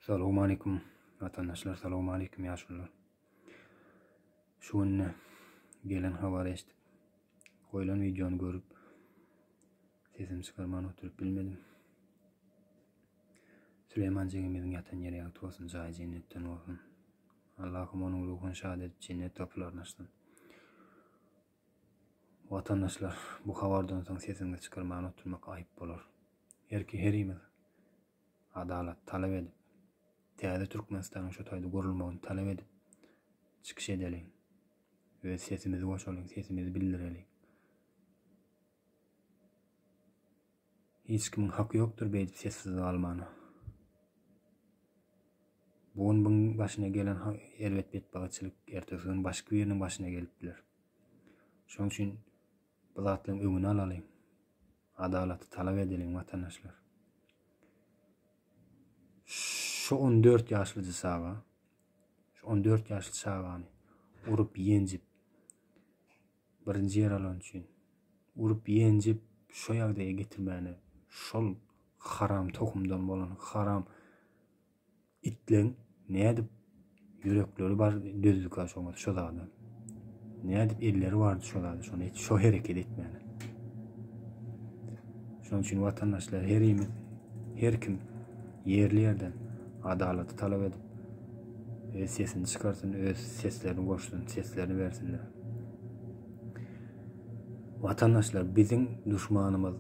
Salowmalikim watandaşlar salowmalikim ýaşulylar. Şu günde gelen habary eşidip goýlan wideony görüp sesimi çykarman oturyp bilmedim. Süleyman jigimiziň ýatan ýeri ýagty bolsun, jaýy jennetden bolsun. Allahym onuň ruhuny şad edip jennet gapylaryny açsyn. Watandaşlar bu habardan soň sesimi çykarman oturmak aýyp bolar. Her ki herimiz adalat talap edip, täze Türkmenistanyň şu taýda gurulmagyny talap edip çykyş edeliň, öz sesimizi goşalyň, sesimizi bildireliň. Hiç kimiň haky ýokdur beýdip sessiz galmana. Bu gün biň başyna gelen erbet betbagytçylyk ertesi gün başky biriniň başyna gelip biler. Şonuň üçin Bu zatlaryň öňüni alalyň. Adalaty talap edeliň watandaşlar. Şu 14 ýaşlyjy çaga, şu 14 ýaşly çagany urup ýenjip birinji ýer alan üçin urup ýenjip şu ýagdaýa getirmäne şol haram tohumdan bolan haram Itleň nädip ýürekleri bar dözdüka şoňa şo zada. Nädip elleri bardy şo zada şony hiç şo hereket etmäne. Şonuň üçin watandaşlar her ýemiz her kim ýerli ýerden adalaty talap edip öz sesini çykarsyn, öz seslerini goşsun, seslerini bersinler. Watandaşlar biziň duşmanymyz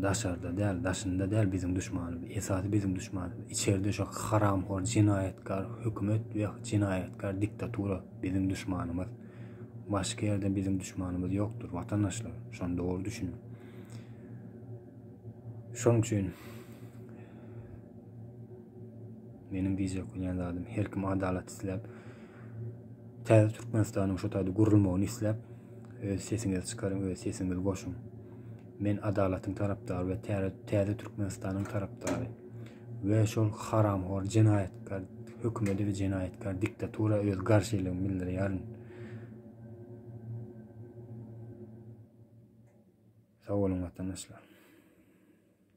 daşarda däl daşynda däl biziň duşmanymyz esasy biziň duşmanymyz içerde şu haramhor jenaýatkar hökümet we jenaýatkar diktatura biziň duşmanymyz başga ýerde biziň duşmanymyz ýokdur watandaşlar şony dogry düşüniň şonuň üçin meniň diýjek bolýan zadym her kim adalat isläp täze Türkmenistanyň şu taýda gurulmagyny isläp Öz sesiňizi çykaryň, öz sesiňizi goşuň. Men adalatyň tarapdary we täze Türkmenistanyň tarapdary. We şol haramhor jenaýatkar hökümeti we jenaýatkar diktatura öz garşylygymy bildirýärin. Sag boluň watandaşlar.